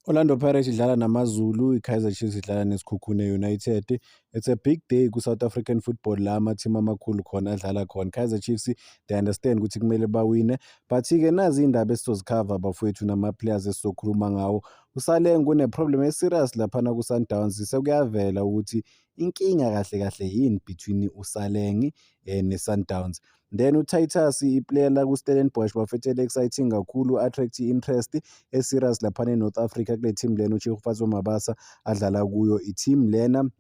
Orlando Pirates idlala namaZulu, iKaizer Chiefs idlala neSikhukhune United. It's a big day ku-South African football la amathimu amakhulu khona adlala khona. Kaizer Chiefs they understand ukuthi kumele bawine. But-ke nazi iy'ndaba esizozikhava bafowethu nama-players esizokhuluma ngawo. Usale ngune-problem e-serious laphana ku-Sundowns sekuyavela ukuthi inkinga kahle kahle yini between uSaleng eh, ne-Sundowns. Then uTitus iplayer la kuStellenbosch bafethu eli-exciting kakhulu attract i-interest e-serious laphana e-North Africa kule team lena uTshegofatso Mabasa adlala kuyo i-team lena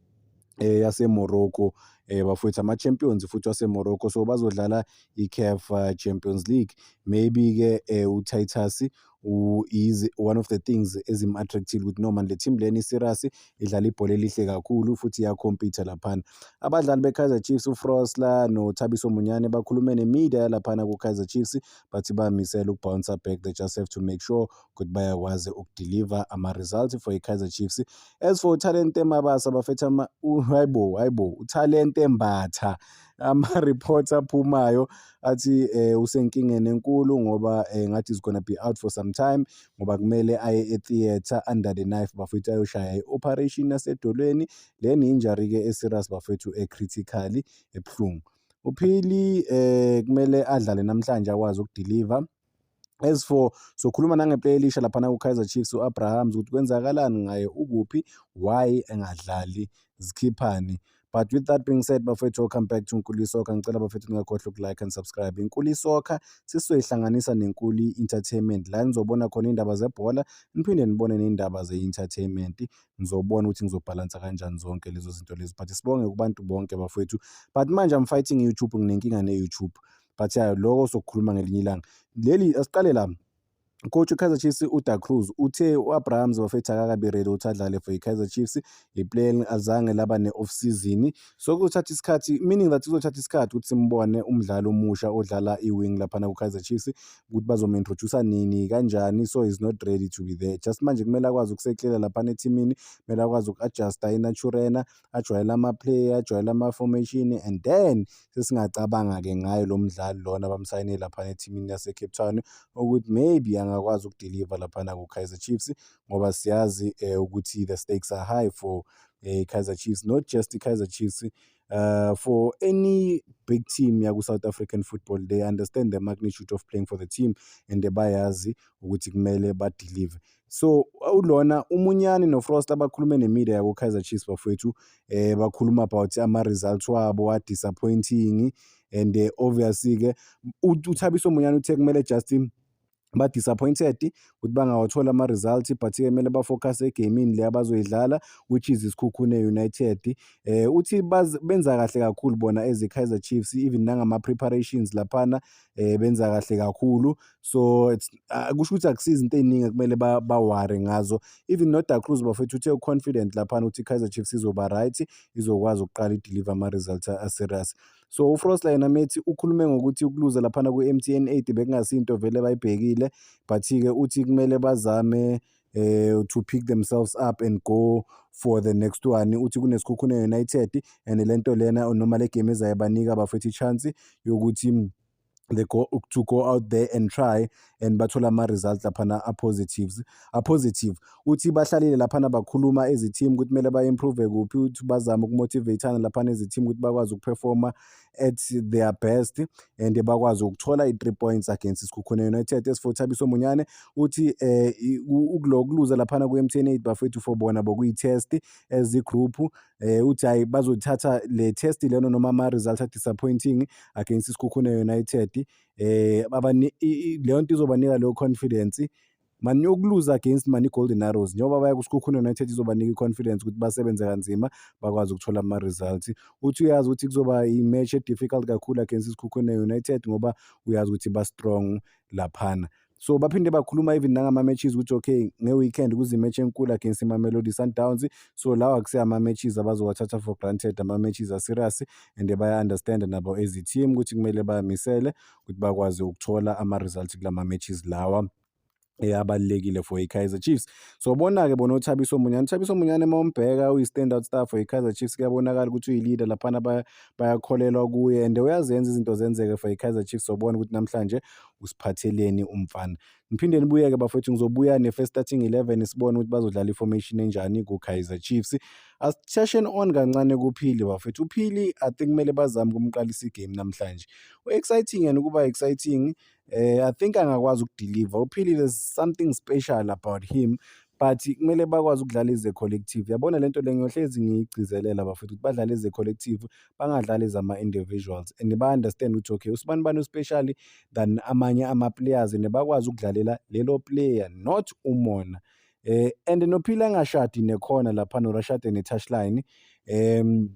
eh, yaseMorocco eh, bafowethu ama-champions futhi waseMorocco so bazodlala i-CAF eh, Champions League maybe-ke eh, uTitus is one of the things ezim-attractile ukuthi no manje le team lena i-serious idlala ibhola elihle kakhulu futhi iyakhompitha laphana abadlali be-kaizer chiefs ufrosler nothabiso munyane bakhulume nemedia yalaphana ku-kaizer chiefs bathi bamisele ukubhouncer back they just have to make sure ukuthi bayakwazi ukudeliver ama-results for i-kaizer chiefs as for utalente mabasa bafetha hayibo hayibo utalente mbatha ama-reports aphumayo athi eh, usenkingeni enkulu ngoba eh, ngathi is gonna be out for some time ngoba kumele aye e-theatre under the knife bafethu ayoshaya i-operation yasedolweni le ni-injury-ke e-serious bafethu e-critically ebuhlungu uphili eh kumele adlale namhlanje akwazi ukudiliva As for sokhuluma nangeplayer elisha laphana ku-Kaizer Chiefs u-Abrahams ukuthi kwenzakalani ngaye, ukuphi, why engadlali, zikhiphani. But with that being said, bafethu welcome back to Nkuli Soccer. Ngicela bafethu ningakhohlwa uku-like and subscribe. Inkuli Soccer sisoyihlanganisa neNkuli Entertainment. La nizobona khona iy'ndaba zebhola, niphinde nibone ney'ndaba ze-entertainment. Ngizobona ukuthi ngizobhalansa kanjani zonke lezo zinto lezo. But sibonge kubantu bonke bafethu. But manje I'm fighting YouTube, nginenkinga ne-YouTube. but ya lokho sokukhuluma ngelinye ilanga leli asiqale la Coach Kaizer Chiefs uDa Cruz uthe u-Abrahams bafetha kakabi ready ukuthi adlale for i-Kaizer Chiefs i-plan azange laba ne-off season so kuzothatha isikhathi meaning that kuzothatha isikhathi ukuthi simbone umdlali omusha odlala i-wing laphana ku-Kaizer Chiefs ukuthi bazomu-introduce nini kanjani so he's not ready to be there just manje kumele akwazi ukuseklela laphana ethimini kumele akwazi uku-adjusta inaturena ajwayele ama-play ajwayele ama-formation and then sesingacabanga-ke ngayo lo mdlali lona bamsayine laphana ethimini lasecape town ukuthi maybe angakwazi ukudeliva laphana ku-kaizer chiefs ngoba siyazi um ukuthi the stakes are high for um kaizer chiefs not just i-kaizer chiefs uh, for any big team yaku-south african football they understand the magnitude of playing for the team and bayazi ukuthi kumele badelive So ulona uMunyani noFrost abakhulume nemedia yakuKaizer Chiefs bafowethu eh bakhuluma about ama-results wabo wa-disappointing and eh, obviously-ke uThabiso Munyani uthe kumele just ba-disappointed ukuthi bangawathola ama-result but-ke kumele bafokhase egamini le abazoyidlala which is isikhukhune united eh uthi benza kahle kakhulu bona as i-kaizer chiefs even nangama-preparations laphana eh benza kahle kakhulu so it's uh, kusho ukuthi akusizi into eziningi ekumele baware ngazo even noda cruz bafethu uthe uconfident laphana ukuthi i-kaizer chiefs izoba right izokwazi ukuqala ideliver ama-results aserious so ufrost la yena methi ukhulume ngokuthi ukuluza laphana ku-m t n eight bekungasinto vele bayibhekile but-ke uthi kumele bazame uh, to pick themselves up and go for the next one uthi kunesikhukhune united and le nto lena noma le game ezayo banika bafethu i-chance yokuthi they go to go out there and try and bathola ama-results laphana a-positives a-positive uthi bahlalile laphana bakhuluma ezithimu ukuthi kumele ba-improve kuphi ukuthi bazame ukumotivatana laphana ezithimu ukuthi bakwazi ukuperforma at their best and bakwazi ukuthola i-three points against isikhukhune united esifo thabiso munyane uthi um ukuluza laphana ku-m t n eight bafethu for bona bokuyi-test as igroup eh uthi hayi bazothatha le test leno noma ama results are disappointing against isikhukhune United eh abani leyo nto izobanika leyo confidence mani yokuluza against mani golden arrows njengoba baya kusikhukhune united izobanika i-confidence ukuthi basebenze kanzima bakwazi ukuthola ama-results uthi uyazi ukuthi kuzoba i-match e-difficult kakhulu against isikhukhune united ngoba uyazi ukuthi ba-strong laphana So baphinde bakhuluma even nangama-matches ukuthi okay nge-weekend kuzimatch enkulu against imamelodi sundowns so lawa akusiye ama-matches abazowathatha for granted ama-matches aserious and baya-understanda nabo as i-team ukuthi kumele bamisele ukuthi bakwazi ukuthola ama-result kula ma-matches lawa eyabalulekile for i-Kaizer Chiefs. So bona-ke bona uThabiso Munyane, uThabiso Munyane uma umbheka uyi-standout star for i-Kaizer Chiefs kuyabonakala ukuthi uyi-leader laphana bayakholelwa kuye and uyazenza izinto zenzeke for i-Kaizer Chiefs sobona ukuthi namhlanje usiphatheleni umfana ngiphinde nibuyeke bafethu ngizobuya ne-first starting 11 sibone ukuthi bazodlala i-formation enjani ku-kaizer chiefs asishasheni on kancane kuphili bafethu uphili i think kumele bazame ukumqalisa igame namhlanje u-exciting yena ukuba exciting eh, i think angakwazi ukudeliver uphili there's something special about him but kumele bakwazi ukudlala ize collective yabona lento le ngiyohlezi ngiyigcizelela bafethu ukuthi badlale ize collective bangadlali zama-individuals and ba-understand ukuthi okay usibani bani uspecially than amanye ama-players and bakwazi ukudlalela lelo player not umona eh and nophila engashadi nekhona lapha norashade ne-touchline um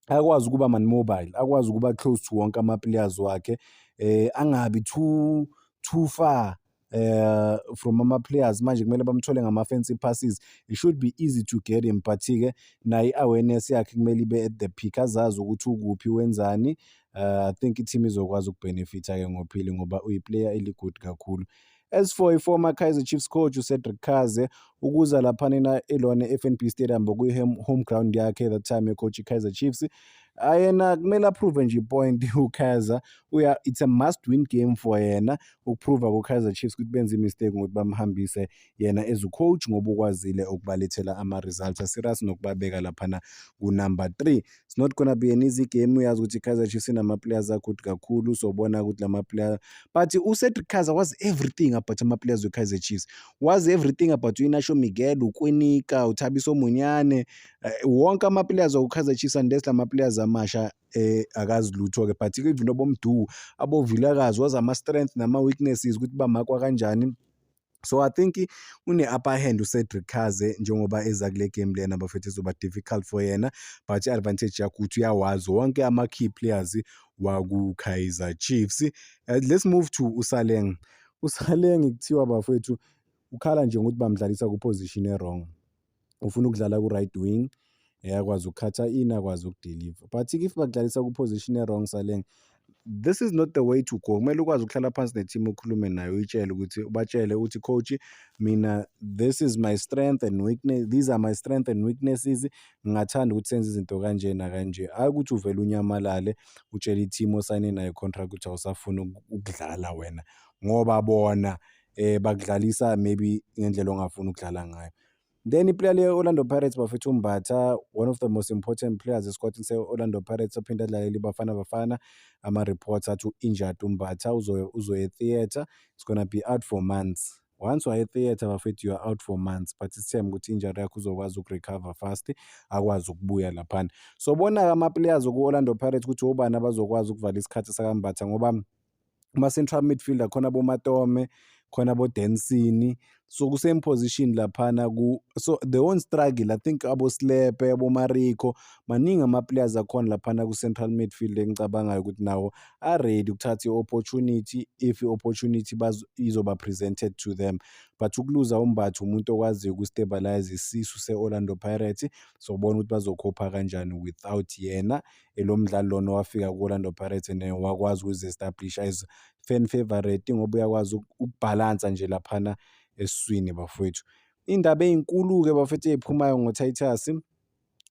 akwazi ukuba man mobile akwazi ukuba close to wonke ama-players wakhe eh angabi too too far eh from ama players manje kumele bamthole ngama fancy passes it should be easy to get him but ke nayi awareness yakhe kumele ibe at the peak azazi ukuthi ukuphi wenzani uh, i think i-team izokwazi ukubenefitha ke ngophili ngoba uyiplayer eligood kakhulu as for i-former kaizer chiefs coach ucedric kaze ukuza laphanina elona e-fnb stadium bokuyi-home ground yakhe that time ecoach i-kaizer chiefs Hayi yena kumele approve nje ipoint uKaizer uya it's a must win game for yena ukuprova kuKaizer Chiefs ukuthi benze imistake ngokuthi bamhambise yena as ucoach ngoba ukwazile ukubalethela ama-results aserious nokubabeka laphana kunumber three it's not gonna be an easy game uyazi ukuthi iKaizer Chiefs inama-players agood kakhulu sobona ukuthi lama-player but uCedric Kaizer was everything about ama-players weKaizer Chiefs was everything about uInacio Miguel, uKwinika, uThabiso Munyane Eh, wonke amaplayers okuKaizer Chiefs unless lama players amasha eh akazi lutho ke but even obomdu abovilakazi wazi ama strength nama weaknesses ukuthi bamakwa kanjani so i think une-upper hand ucedric kaze njengoba eza kule game lena bafethu izoba difficult for yena but i-advantage yakho ukuthi uyawazi wonke ama-key players wakukaizer chiefs uh, let's move to usaleng usaleng kuthiwa bafethu ukhala nje ngokuthi bamdlalisa kuposition erong ufuna ukudlala ku-right wing eh, akwazi ukukhatha in akwazi ukudeliver but if bakudlalisa ku-position e-wrong saleng this is not the way to go kumele ukwazi ukuhlala phansi ne-team ukhulume nayo uyitshele ukuthi ubatshele uthi coach mina this is my strength and weakness these are my strength and weaknesses ngingathanda ukuthi senze izinto kanje nakanje hhayi ukuthi uvele unyamalale utshele i-team osayine nayo contract ukuthi awusafuni ukudlala wena ngoba bona eh bakudlalisa maybe ngendlela ongafuni ukudlala ngayo then iplayer le-orlando pirates bafethu umbatha one of the most important players esikwatini se-orlando pirates ophinde adlalele ibafana bafana ama-reports athi u-injured umbatha uzoya e-theatre it's gonna be out for months once waye theatre bafethu you are out for months but isithemba ukuthi injury yakho uzokwazi ukurecover fast akwazi ukubuya laphana so bona-ke ama-players oku-orlando pirates ukuthi obani abazokwazi ukuvala isikhathi sakambatha ngoba kuma-central midfielder khona bomatome khona bodensini so ku-same position laphana ku so the one struggle i think abosilepe abomariko maningi ama-players akhona laphana ku-central midfield engicabangayo ukuthi nawo aready ukuthatha i-opportunity if i-opportunity izoba presented to them but ukuluza umbatha umuntu okwaziyo ukustabilize isisu se-orlando pirates sobona ukuthi bazokhopha kanjani without yena Lo mdlali lona owafika ku-Orlando Pirates and wakwazi ukuzi-establisha as fan favourite ngoba uyakwazi ukubhalansa nje laphana esiswini bafowethu. Iy'ndaba ey'nkulu-ke bafowethu ey'phumayo ngoTitus,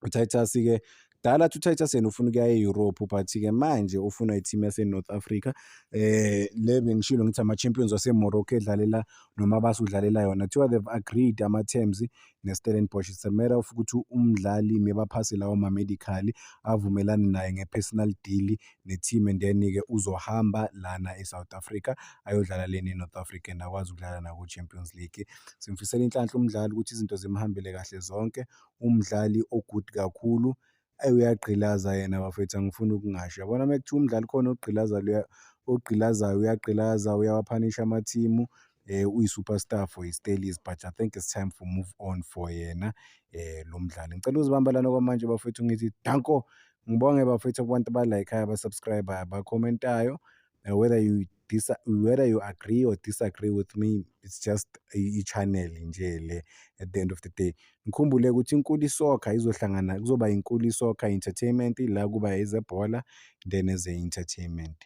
uTitus-ke kudala athi uTitus yena ufuna ukuya e-Europe but-ke manje ufuna i-team yase-North Africa um le bengishilo ngithi ama-champions waseMorocco edlalela noma base udlalela yona kuthiwa they've agreed ama-terms neStellenbosch. It's a matter of ukuthi umdlali mebaphase lawo ma-medical avumelane naye nge-personal deal ne-team and then-ke uzohamba lana e-South Africa ayodlala lena e-North Africa and akwazi ukudlala naku-Champions League. Simfisela inhlanhla umdlali ukuthi izinto zimhambele kahle zonke, umdlali o-good kakhulu. Ayi uyagqilaza yena bafethu angifuni ukungasho. Yabona uma kuthiwa umdlali khona ogqilaza luya ogqilazayo uyagqilaza uyawaphanisha amathimu eh uyi-superstar for his dailies but i think it's time for move on for yena eh lo mdlali ngicela uzibamba lana kwamanje bafethu ngithi danko ngibonge bafethu kubantu abalayikhayo abasubscribayo abakhomentayo uh, whether you dis whether you agree or disagree with me it's just i-channel nje le at the end of the day ngikhumbule ukuthi inkulu isokha izohlangana kuzoba inkulu isokha entertainment la kuba ezebhola then as entertainment